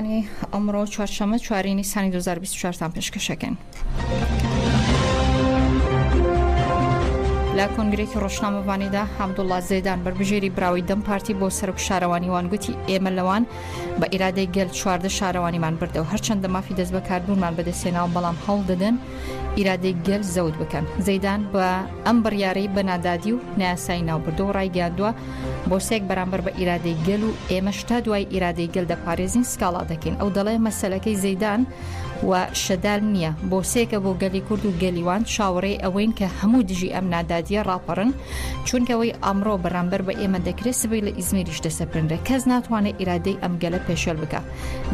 بەرنامەکانی ئەمڕۆ چوارشەمە چواری نیسانی 2024 تان پێشکەشەکەین. لە کۆنگرێکی ڕۆژنامەوانیدا حەمدوڵا زێدان بەربژێری براوی دەم پارتی بۆ سەرک شارەوانیوان گوتی ئێمە لەوان بە ئیرادەی گەل چواردە شارەوانیمان بردەوە هەرچەندە مافی دەست بەکاربوونمان بەدەستێناو بەڵام هەڵ دەدەن ئیرادەی گەل زەوت بکەن زەدان بە ئەم بڕیارەی بەنادادی و ناسای ناوبردو ڕایگەاندووە بۆسێک بەرامبەر بە ئیرادەی گەل و ئێمەش تا دوای ئیرادەی گەل دەپارێزین سکاڵا دەکەین ئەو دەڵێ مەسەلەکەی زەیدان و شەدال نییە بۆسێکە بۆ گەلی کورد و گەلیوان چاوەڕێی ئەوەین کە هەموو دژی ئەم نادادیە ڕاپەڕن چونکەوەی ئەمڕۆ بەرامبەر بە ئێمە دەکرێت سبەی لە ئیزمیریش دەسەپرنرێ کەس ناتوانێت ئیرادەی ئەم گەلە پێشێل بکە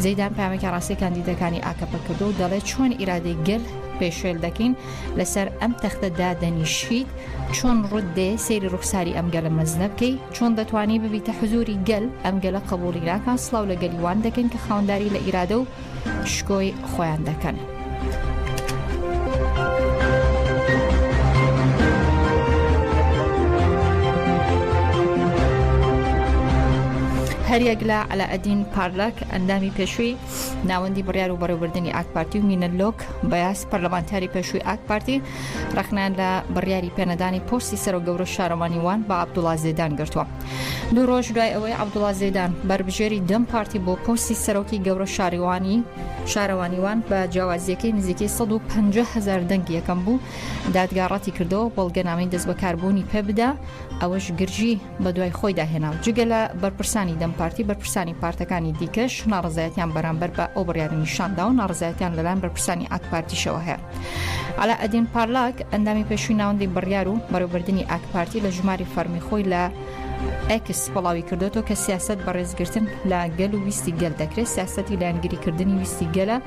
زەیدان پامێکە ڕاستی کاندیدەکانی ئاکەپە کردو دەڵێت چۆن ئیرادەی گەل پێشێل دەکەین لەسەر ئەم تەختە دادەنیشیت چۆن ڕوت دێ سەیری ڕوخساری ئەم گەلە مەزنە بکەی چۆن دەتوانی ببیتە حزوری گەل ئەم گەلە قبوڵی ناکا سڵاو لە گەلی وان دەکەین کە خاوەنداری لە ئیرادە و شکۆی خۆیان دەکەن. هەریەک لە علاءدین پارلک ئەندامی پێشووی ناوەندی بڕیار و بەڕێوبردننی ئاکپارتی و مینە لۆک بەیاس پەرلەمانتاری پێشووی ئاکپارتی ڕەخنە لە بڕیاری پێنەدانی پۆستی سەرۆک گەورە شارەوانی وان بە عبدوڵا زێدان گرتووە دوو ڕۆژ دوای ئەوەی عبدوڵا زێدان بەربژێری دەم پارتی بۆ پۆستی سەرۆکی گەورە شاریوانی شارەوانیوان بە جیاوازیەکەی نزیکەی 150 هزار دەنگی یەکەم بوو دادگاڕەتی کردەوە بەڵگەنامی دەست بەکاربوونی پێ بدا ئەوەش گرژی بەدوای خۆیدا هێنا و جگە لە بەرپرسانی دەم پارتی بەرپرسانی پارتەکانی دیکەش ناڕزایەتیان بەرامبەر بە ئەو بڕیارە نیشاندا و ناڕزایەتیان لەلایەن بەرپرسانی ئاکپارتیشەوە هەیە علا ئەدین پارلاک ئەندامی پێشوی ناوەندی بڕیار و بەرەوبردننی ئاکپارتی لە ژماری فەرمی خۆی لە ئەکس بڵاوی کردوەوە کە سیاست بەڕێزگرتن لە گەل و ویستی گەل دەکرێت سیاستی لایەنگریکردنی ویستی گەلە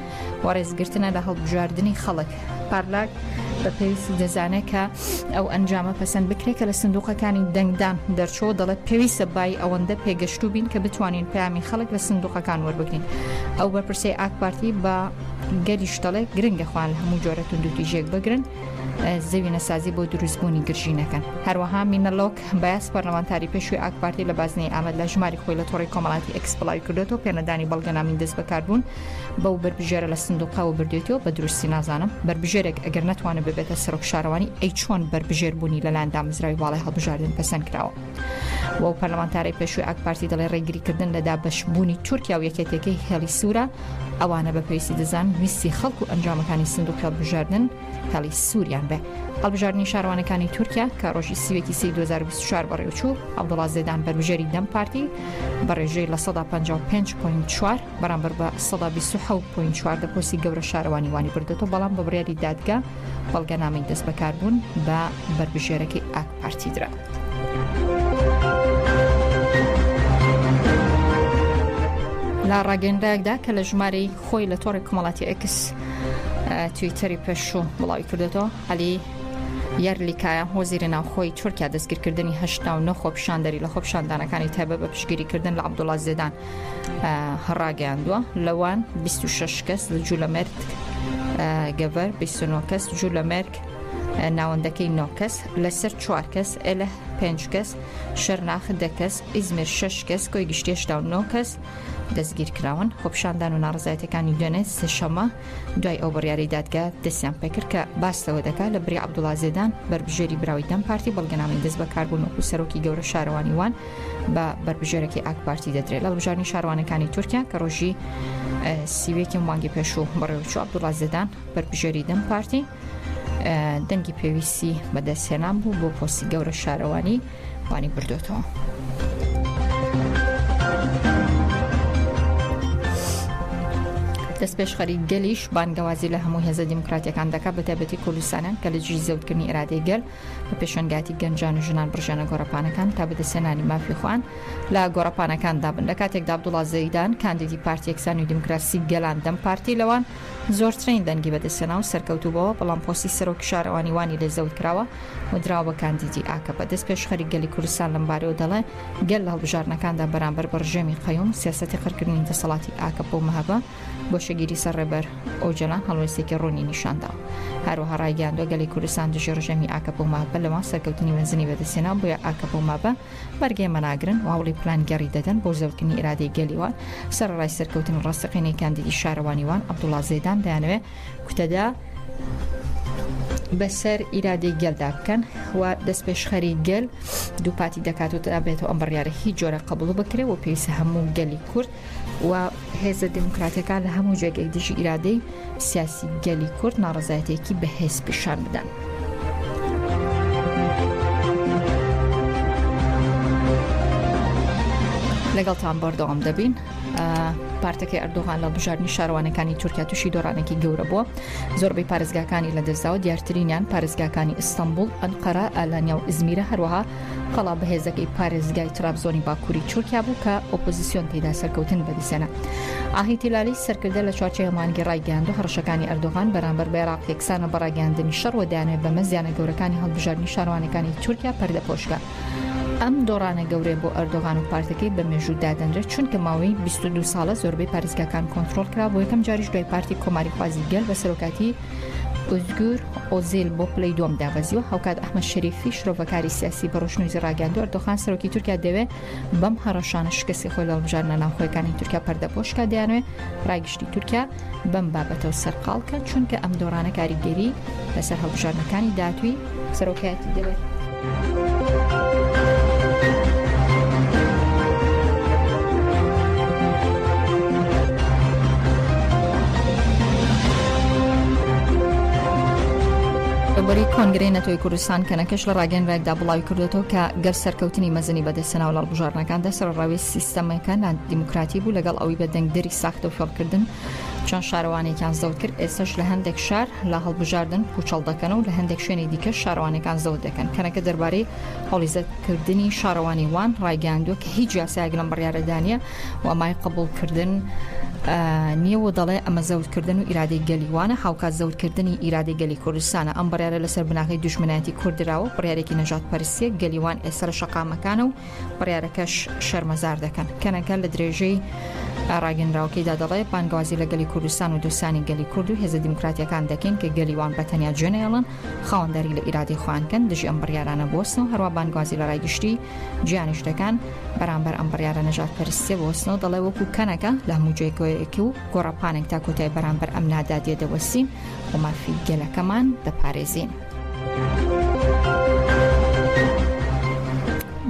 و ڕێزگرتنە لە هەڵبژاردنی خەڵک پارلاک بە پێویست دەزانێت کە ئەو ئەنجامە پەسەند بکرێت کە لە سندوقەکانی دەنگدان دەرچۆ دەڵێت پێویستە بای ئەوەندە پێگەشتو بین کە بتوانین پامی خەڵک لە سندوقەکان وەربگرین ئەو بەرپرسی ئاک پارتی بە گەریش دەڵێت گرنگە خوان لە هەموو جۆرە توندوتی ژێک بگرن زەوی نەسازی بۆ دروستبوونی گرژینەکەن هەروەها مینەلۆک بەس پەرلەمانتاری پێشوی ئاکپارتی لە بازنەی ئامد لە ژماری خۆی لە تۆڕی کۆمەڵاتی ئەکسپلای کردێتەوە پێنەدانی بەڵگەنامی دەست بەکاربوون بەو بەربژێرە لە سندوقەوە بردێتەوە بە دروستی نازانم بەربژێرێک ئەگەر نتوانە ببێتە سەرۆک شارەوانی ئەی چۆن بەربژێر بوونی لەلاەن دامزراوی باڵی هەڵبژاردن پەسەند کراوە و پەرلەمانتارەی پێشوی ئاکپارتی دەڵێ ڕێگریکردن لە دابشبوونی تورکیا و یەکێتەکەی هێڵی سوورە ئەوانە بە پێویستی دەزان ویستی خەڵک و ئەنجامەکانی سندوق هەڵبژاردن هێڵی سووریان بێ هەڵبژاردننی شارەوانەکانی تورکیا کە ڕۆژی سیوێکی سی 2024 بەڕێوچوو ئەوڵاز زێدان بەربژێری دەم پارتی بە ڕێژەی لە 155.4 بەرامبەر بە سەدا بیست و حەوت پۆینت چوار لە پۆستی گەورە شارەوانی وانی بردێتەوە بەڵام بە بڕیاری دادگا بەڵگەنامەی دەست بەکاربوون بە بەربژێرەکەی ئاک پارتی درا. لە ڕاگەندایەکدا کە لە ژمارەی خۆی لە تۆڕی کۆمەڵاتی ئەکس تویتەری پێشوو بڵاوی کردێتەوە علی یارلیکایە هۆزیرە ناوخۆی تورکیا دەستگیرکردنی هەشتا و نەخۆ پیشاندەری لە خۆپشاندانەکانی تایبە بە پشگیریکردن لە عبدوڵاز زێدان ڕاگەیاندووە لەوان 26 کەس لە جوولەمەرگ گەڤەر بیسنۆ کەس جوولەمەرگ ناوەندەکەی نۆکەس لەسەر چوار کەس ئەلە پێنج کەس شەرناخ دەکەس ئیزمر شش کەس کۆی گشتێشتا و نۆ کەس دەستگیر کراون خۆپشاندان و ناڕزایەتەکانی دوێنێت سێشەمە دوای ئەو بڕیاری دادگا دەستیان پێکرد کە باستەوە دەکات لە بری عبدوڵازێدان بەربژێری براوی دەم پارتی بەڵگەنامی دەست بەکاربوون وەکو سەرۆکی گەورە شارەوانی وان بە بەربژێرەکی ئاک پارتی دەدرێت لە بژارنی شاروانەکانی تورکیا کە ڕۆژی سیوێکی مانگی پێشوو بەڕێوچو عبدوڵاز دەدان بەربژێری دەم پارتی دەنگی پێویستی بەدەستهێنان بوو بۆ پۆستی گەورە شارەوانی وانی بردوێتەوە. دەست پێشخەری گەلیش بانگەوازی لە هەموو هێزە دیموکراتەکان دەکات بەتابەتی کوردستانیان کە لە جی زەوتکردنی ئرادەی گەل بە پێشنگاتی گەنجان و ژنان بڕژانە گۆڕپانەکان تا بەدەسێنانی مافی خوان لە گۆڕپانەکان دابن لە کاتێکدا عبدوڵا زەیدان کاندیدی پارتی یەکسان و دیموکراسی گەلان دەم پارتی لەوان زۆرترین دەنگی بەدەسێنا و سەرکەوتو بەوە بەڵام پۆسی سەرۆک شارەوانی وانی لێ زەوت کراوە و دراوە بە کاندیدی ئاکە بە دەست پێشخەری گەلی کوردستان لەمبارەوە دەڵێ گەل لە هەڵبژاردنەکاندا بەرامبەر بە ڕژێمی قەیوم سیاسەتی قڕکردنی دەسەڵاتی ئاکەپە و مەهەپە گۆشەگیری سەر ڕێبەر ئۆجەلان هەڵوێستێکی ڕوونی نیشاندا هەروەها ڕایگەیاندوە گەلی کوردستان دژی ڕژێمی ئاکەپە و مابە لەوان سەرکەوتنی مەزنی بەدەستێنا بۆیە ئاکەپە و مابە بەرگەی مەناگرن و هەوڵی پلانگێڕی دەدەن بۆ زەوتنی ئرادەی گەلی وان سەرڕای سەرکەوتنی ڕاستەقینەی کاندیدی شارەوانی وان عەبدوڵا زێدان دەیانەوێ کوتەدا بەسەر ئیرادەی گەلدا بکەن و دەست پێشخەری گەل دووپاتی دەکات و دابێتەوە ئەم بڕیارە هیچ جۆرە قبول بکرێ و پێویستە هەموو گەلی کورد و هێزە دموکراتەکان لە هەموو جێگەی دژی ئیرادەی سیاسی گەلی کورد ناڕزایەتێکی بەهێز پیشان بدەن. لەگەڵتان بەردەوام دەبین پارتەکەی ئەردوغان لە بژارنی شارەوانەکانی تورکیا تووشی دۆڕانێکی گەورە بووە زۆربەی پارێزگاکانی لە دەستداوە دیارترینیان پارێزگاکانی ئیستانبول ئەنقەرە ئالانیا و ئزمیرە هەروەها قەڵا بەهێزەکەی پارێزگای ترابزۆنی باکووری تورکیا بوو کە ئۆپۆزیسیۆن تێدا سەرکەوتن بەدیسێنا ئاهی تیلالی سەرکردە لە چوارچێوە مانگی ڕایگەیاند و هەڕشەکانی ئەردۆغان بەرامبەر بە عێراق یەکسانە بە ڕاگەیاندنی شەڕ و دەیانەوێت بەمە زیانە گەورەکانی هەڵبژاردنی شارەوانەکانی تورکیا پەردەپۆشکە ئەم دۆڕانە گەورەیە بۆ ئەردۆغان و پارتەکەی بە مێژوو دادەنرێت چونکە ماوەی 22 ساڵە زۆربەی پارێزگاکان کۆنترۆڵ کرا بۆ یەکەم جاریش دوای پارتی کۆماری خوازی گەل بە سەرۆکاتی ئۆزگور ئۆزیل بۆ پلەی دووەم دابەزیوە هاوکات ئەحمە شەریفی شرۆڤەکاری سیاسی بە ڕۆژنوزی ڕاگەاندو ئەردۆخان سەرۆکی تورکیا دەوێ بەم هەڕەشانە شکستی خۆی لە هەڵبژاردنە ناوخۆیەکانی تورکیا پەردە پۆشکا دەیانوێ ڕای گشتی تورکیا بەم بابەتەوە سەرقاڵکەن چونکە ئەم دۆڕانە کاریگەری لەسەر هەڵبژاردنەکانی داهاتوی سەرۆکایەتی دەوێت. ڕێبەری کۆنگرەی نەتۆی کوردستان کەنەکەش لە ڕاگەنراکدا بڵاوی کردوێتەوە کە گەر سەرکەوتنی مەزنی بەدەستەناو لە بژارنەکاندا سەرڕاوی سیستەمەکە نادیموکراتی بوو لەگەڵ ئەوی بە دەنگدەری ساختە و فێڵکردن چەند شارەوانێکیان زەوت کرد ئێسش لە هەندێک شار لە هەڵبژاردن پوچەڵ دەکەن و لە هەندێک شوێنی دیکە شارەوانەکان زەوت دەکەن کەنەکە دەربارەی هەڵیزەتکردنی شارەوانی وان ڕایگەاندووە کە هیچ یاسایەک لەم بڕارەدانە وامای قبولکردن نییە و دەڵێ ئەمە زەوتکردن و ئیرادەی گەلیوانە هاوکات زەوتکردنی ئیرادەی گەلی کوردستانە ئەم بڕارە لەسەر بناغی دژمنایەتی کوردراوە بڕارێکی نەژات پرسیە گەلیوان ئێستا لە شەقامەکانە و بڕیارەکەش شەرمەزار دەکەن کەنەکە لە درێژەی ڕاگەنراوکەیدا دەڵێ بانگوازی لە گەلی کوردستان و دوستانی گەلی کورد و هێزە دیموکراتیەکان دەکەین کە گەلیوان بە تەنیا جێنەێڵن خاوەنداری لە ئیرادی خوانکەن دژی ئەم بڕیارانە بۆستن و هەروە بانگوازی لە ڕای گشتی جیانش دەکەن بەرامبەر ئەم بڕیارە نەژات پەرستێ بۆستنەوە دەڵێ وەکو کەنەکە لە هەموو جێگۆیەکی و گۆڕەپانێک تا کۆتای بەرامبەر ئەم نادادیە دەوەستین و مافی گەلەکەمان دەپارێزین.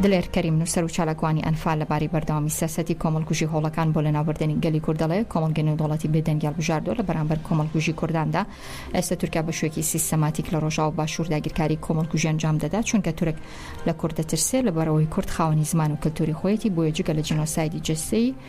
دلێر کەریم نووسەر و چالاکوانی ئەنفال لەبارەی بەردەوامی سیاسەتی کۆمەڵکوژی هۆڵەکان بۆ لەناوبردنی گەلی کورد دەڵێ کۆمەڵگە نێودەوڵەتی بێدەنگی هەڵبژاردووە لە بەرامبەر کۆمەڵکوژی کورداندا ئێستا تورکیا بە شوێکی سیستەماتیک لە ڕۆژاوە باشوور داگیرکاری کۆمەڵکوژی ئەنجام دەدا چونکە تورک لە کورد دەترسێ لەبەرەوەی کورد خاوەنی زمان و کلتوری خۆیەتی بۆیە جگە لە جینۆسایدی جەستەیی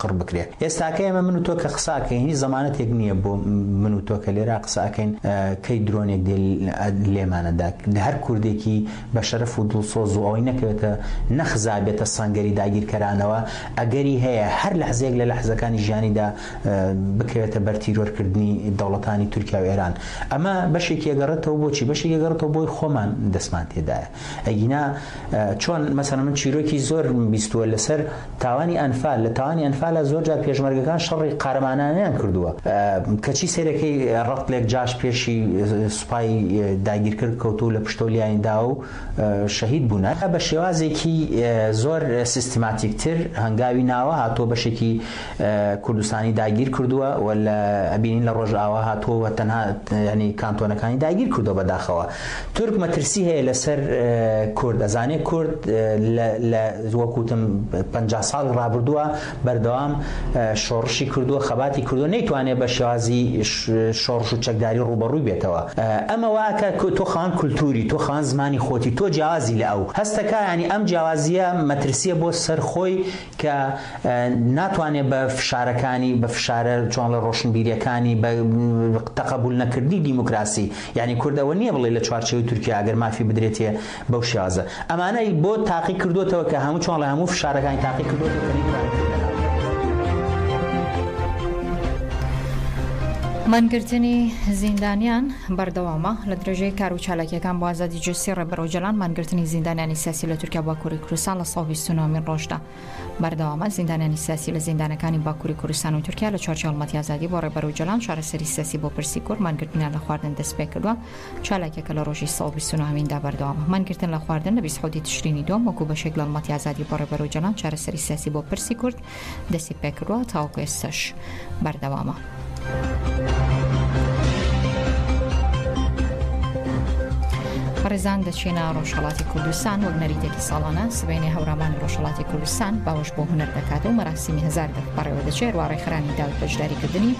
قڕ بکرێ ئێستاکە ئێمە من و تۆ کە قسە ئەکەین هیچ زەمانەتێک نییە بۆ من و تۆ کە لێرا قسە ئەکەین کەی درۆنێک دێ لێمانە دا هەر کوردێکی بە شەرەف و دڵسۆز و ئەوەی نەکەوێتە نەخزا بێتە سەنگەری داگیرکەرانەوە ئەگەری هەیە هەر لەحزەیەک لە لەحزەکانی ژیانیدا بکەوێتە بەر تیرۆرکردنی دەوڵەتانی تورکیا و ئێران ئەمە بەشێکی ئەگەڕێتەوە بۆچی بەشێکی ئەگەڕێتەوە بۆی خۆمان دەستمان تێدایە. ئەگینا چۆن مەسەلەن من چیرۆکی زۆرم بیستووە لەسەر تاوانی ئەنفال لە تاوانی ئەنفالا زۆر جار پێشمەرگەکان شەڕی قارەمانانیان کردووە کەچی سێرەکەی ڕەتلێک جاش پێشی سوپای داگیرکرد کەوتو لە پشتۆ لیانی دا و شەهید بوونە بە شێوازێکی زۆر سیستماتیکتر هەنگاوی ناوە هاتووە بەشێکی کوردستانی داگیر کردووە و لە ئەبینین لە ڕۆژئاوا هاتووە و تەنها ینی کانتۆنەکانی داگیر کردووە بەداخەوە تورک مەترسی هەیە لەسەر کورد ئەزانێ کورد لە وەکوتم پ ساڵی ڕابردووە بەردەوام شۆڕشی کردووە خەباتی کردووە نەیتوانێ بە شێوازی شۆڕش و چەکداری ڕوبەڕووی بێتەوە ئەمە واکە تۆ خان کولتوری تۆ خان زمانی خۆتی تۆ جیازی لە ئەو هەستەکە ینی ئەم جیازیە مەترسیە بۆ سەر خۆی کە ناتوانێت بە فشارەکانی، بە فشارە چۆنڵێ ڕۆشنبیریەکانی، بە تقبول نەکردنی دیموکراسی، یانی کورد ئەوە نیە بڵێ لە چوارچێوەی تورکیا ئەگەر مافی بدرێتێ بەو شێوازە. ئەمانە ی بۆ تاقی کردوەتەوە کە هەموو چۆنڵێ هەموو فشارەکانی تاقی کردوەتەوە کە نەیتوانی کورد لە ناو. مانگرتنی زیندانیان بەردەوامە، لە درێژەی کار و چالاکییەکان بۆ ئازادی جەستەی ڕێبەر ئۆجەلان، مانگرتنی زیندانیانی سیاسی لە تورکیا باکووری کوردستان، سەد و بیست و نۆ مین ڕۆژدا بەردەوامە، زیندانیانی سیاسی لە زیندانەکانی باکووری کوردستان و تورکیا لە چوارچێوە هەڵمەتی ئازادی بۆ ڕێبەر ئۆجەلان چارەسەری سیاسی بۆ پرسی کورد مانگرتنیان لە خواردن دەستپێکردووە، چالاکیەکە لە ڕۆژی سەد و بیست و نۆ هەمیندا بەردەوامە، مانگرتن لە خواردن لە بیست حەوتی تشرینی دووەم وەکو بەشێک لە هەڵمەتی ئازادی بۆ ڕێبەر ئۆجەلان چارەسەری سیاسی بۆ پرسی کورد دەستی پێکردوە تاوەکو ئێستاش بەردەوامە. ڕێزان دەچینە ڕۆژهڵاتی کوردستان وەک نەریتێکی ساڵانە سبینێ هەورامان ڕۆژهڵاتی کوردستان باوەش بۆ هوەر دەکات و مەراسیمی هزار دەک بەڕێوە دەچێت واڕێخرانی داوت بەشداریکردنی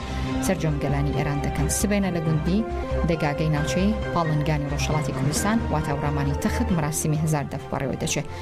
سەررجەم گەلانی ئێران دەکەن سبێنە لە گوندی دەگاگەی ناوچەی پاڵنگانی ڕۆژهڵاتی کوردستان واتاوڕامانی تەخت مەراسیمی هزار دەف بەڕێوە دەچێت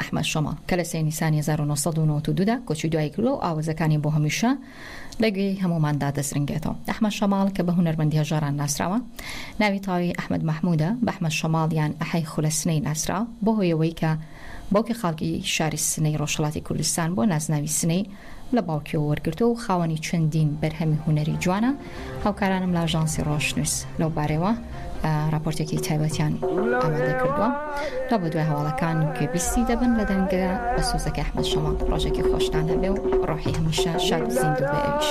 ئەحمەد شەماڵ، کە لە سێ نیسانی هەزار و نۆ سەد و نەوەد و دوو دا کۆچی دوایی کردووە و ئاوەزەکانی بۆ هەمیشە لە گوێی هەمووماندا دەزرنگێتەوە. ئەحمەد شەماڵ، کە بە هونەرمەندی هەژاران ناسراوە، ناوی تەواوی ئەحمەد مەحموودە، بە ئەحمەد شەماڵ یان ئەحەی خولە سنەی ناسرا، بەو هۆیەوەی کە باوکی خاڵکی شاری سنەی ڕۆژهەڵاتی کوردستان بووە، نازناوی سنەی لە باوکیەوە وەرگرتووە و خاوەنی چەندین بەرهەمی هونەری جوانە، هاوکارانم لە ئاژانسی ڕۆژنووس لەو بارەیەوە ڕاپۆرتێکی تایبەتیان ئامادە کردووە، لە بە دوای هەواڵەکان گوێبیستی دەبن لە دەنگە بەسۆزەکەی ئەحمەد شەماڵ، ڕۆژێکی خۆشتان هەبێ و ڕۆحی هەمیشە شاد و زیندوو بێ ئەویش.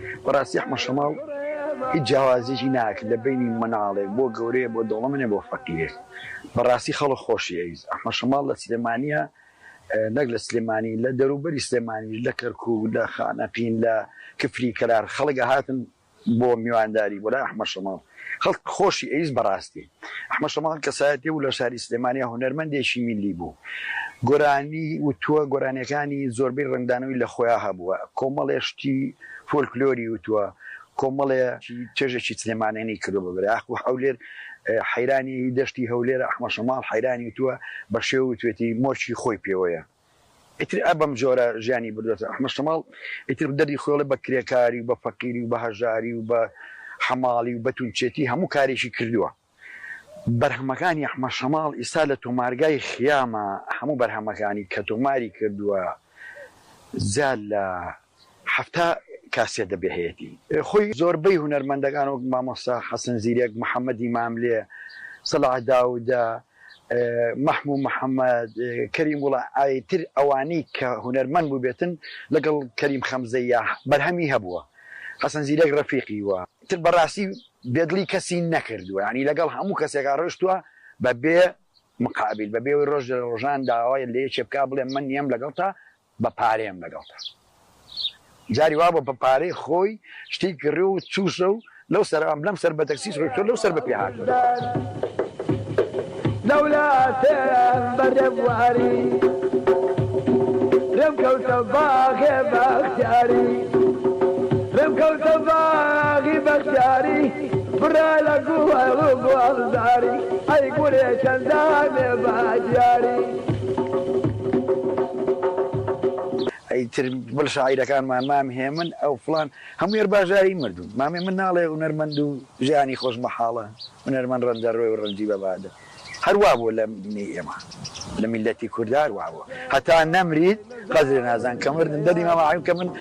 بەڕاستی ئەحمە شەماڵ هیچ جیاوازیەکی ناکرد لە بەینی مناڵێک بۆ گەورەیە بۆ دەوڵەمنێ بۆ فەقیرێ بەڕاستی خەڵک خۆشی ئەویست ئەحمە شەماڵ لە سلێمانیە نەک لە سلێمانی لە دەروبەری سلێمانیش لە کەرکوک لە خانەقین لە کفری کەلار خەڵک ئەهاتن بۆ میوانداری بۆ لای ئەحمە شەماڵ خەڵک خۆشی ئەویست بەڕاستی. ئەحمەد شەماڵ کەسایەتییە و لە شاری سلێمانییە، هونەرمەندێکی میللی بوو. گۆرانی وتووە، گۆرانییەکانی زۆربەی ڕەنگدانەوەی لە خۆیان هەبووە. کۆمەڵێ شتی فۆلکلۆری وتووە، کۆمەڵێ چێژێکی سلێمانێنی کردووە بە بەرێ ئاخ و هەولێر، حەیرانی دەشتی هەولێرە ئەحمەد شەماڵ حەیرانی وتووە، بە شێوە وتووێتی، مۆرکی خۆی پێوەیە. ئیتر ئا بەم جۆرە ژیانی بردۆتە ئەحمەد شەماڵ، ئیتر دەردی خۆێ بە کرێکاری و بە فەقیری و بە هەژاری و بە حەماڵی و بە تونچێتی هەموو کارێکی کردووە. بەرهەمەکانی ئەحمەد شەماڵ ئیستا لە تۆمارگای خیامە، هەموو بەرهەمەکانی کە تۆماری کردووە جا لە. حەفتا کاسێت دەبێ هەیەتی خۆی. زۆربەی هونەرمەندەکان وەک مامۆستا حەسەن زیرەک، محەمەدی ماملێ، سەلاح داودە، مەحموو محەمەد، کەریم گوڵە ئایتر ئەوانی کە هونەرمەند بووبێتن لەگەڵ کەریم خەمزەییاه بەرهەمی هەبووە حەسەن زیرەک رەفیقی وە. تر بەڕاستی بێدڵی کەسی نەکردووە یانی لەگەڵ هەموو کەسێکا رۆیشتووە بەبێ مقابیل بەبێ ئەوەی رۆژ لە رۆژان داوای لەیەکێ بکا بڵێ من نیەم لەگەڵتا بە پارەیەم لەگەڵتە جاری وابوە بە پارەی خۆی شتی کڕی و چووسە و لەو سەر ئەم لەم سەر بە تەکسیس ڕۆیشتۆ لەو سەر بە پێ هاتۆ ئیتر بڵ شاعیرەکانمان مام هێمن ئەو فڵان هەموێر باژاری مردون مامێ من ناڵێ هونەرمەند و ژیانی خۆش مەحاڵە هونەرمەند ڕەنجە ڕۆێ و ڕەنجی بەبادە هەروا بوو لە دنیای ئێمە لە میلەتی کوردار وابوو هەتا نەمریت قەدرێ نازان کە مردن دەدی ماماعیم کە من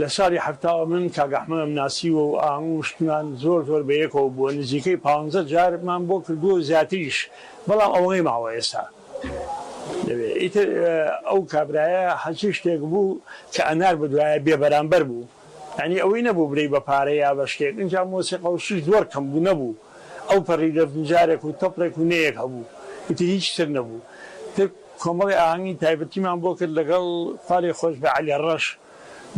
لە ساڵی حەفتاوە من کاک ئەحمەدم ناسیوە و ئاهەنگو شتمان زۆر زۆر بەیەکەوە بووە نزیکەی پانزە جار مان بۆ کردووە و زیاتریش بەڵام ئەوەی ماوە ئێستا دەبێ ئیتر ئەو کابرایە هەرچی شتێک بوو کە ئەنارد بە دوایە بێ بەرامبەر بوو یانی ئەوەی نەبوو برێی بە پارە یا بە شتێک ئینجا مۆسیقا و شت زۆر کەم بوو نەبوو ئەو پەڕی دەفنجارێک و تەپڵێک و نەیەک هەبوو ئیتر هیچ تر نەبوو تر کۆمەڵێ ئاهەنگی تایبەتیمان بۆ کرد لەگەڵ خوالێ خۆشبێ عەلی ڕەش،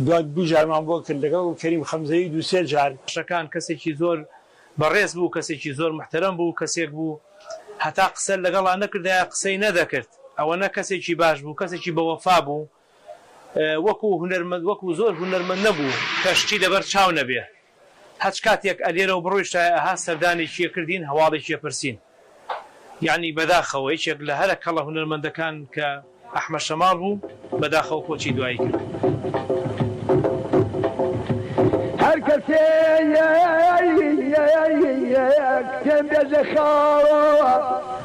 دوای دوو جارمان بۆ کرد لەگەڵ کەریم خەمزەیی دوو سێ جار. شەکان کەسێکی زۆر بەڕێز بوو کەسێکی زۆر محتەرەم بوو کەسێک بوو هەتا قسە لەگەڵا نەکردایە قسەی نەدەکرد ئەوەنە کەسێکی باش بوو کەسێکی بەوەفا بوو. وەکو هونەرمەند وەکو زۆر هونەرمەند نەبوو کە شتی لەبەر چاو نەبێ هەچ کاتێک ئەلێرەوە بڕۆیشتایە ئەها سەردانێکی ئەکردین هەواڵێکی ئەپرسین یەعنی بەداخەوە یەکێک لە هەرە کەڵە هونەرمەندەکان کە ئەحمەد شەماڵ بوو بەداخەوە کۆچی دوایی کرد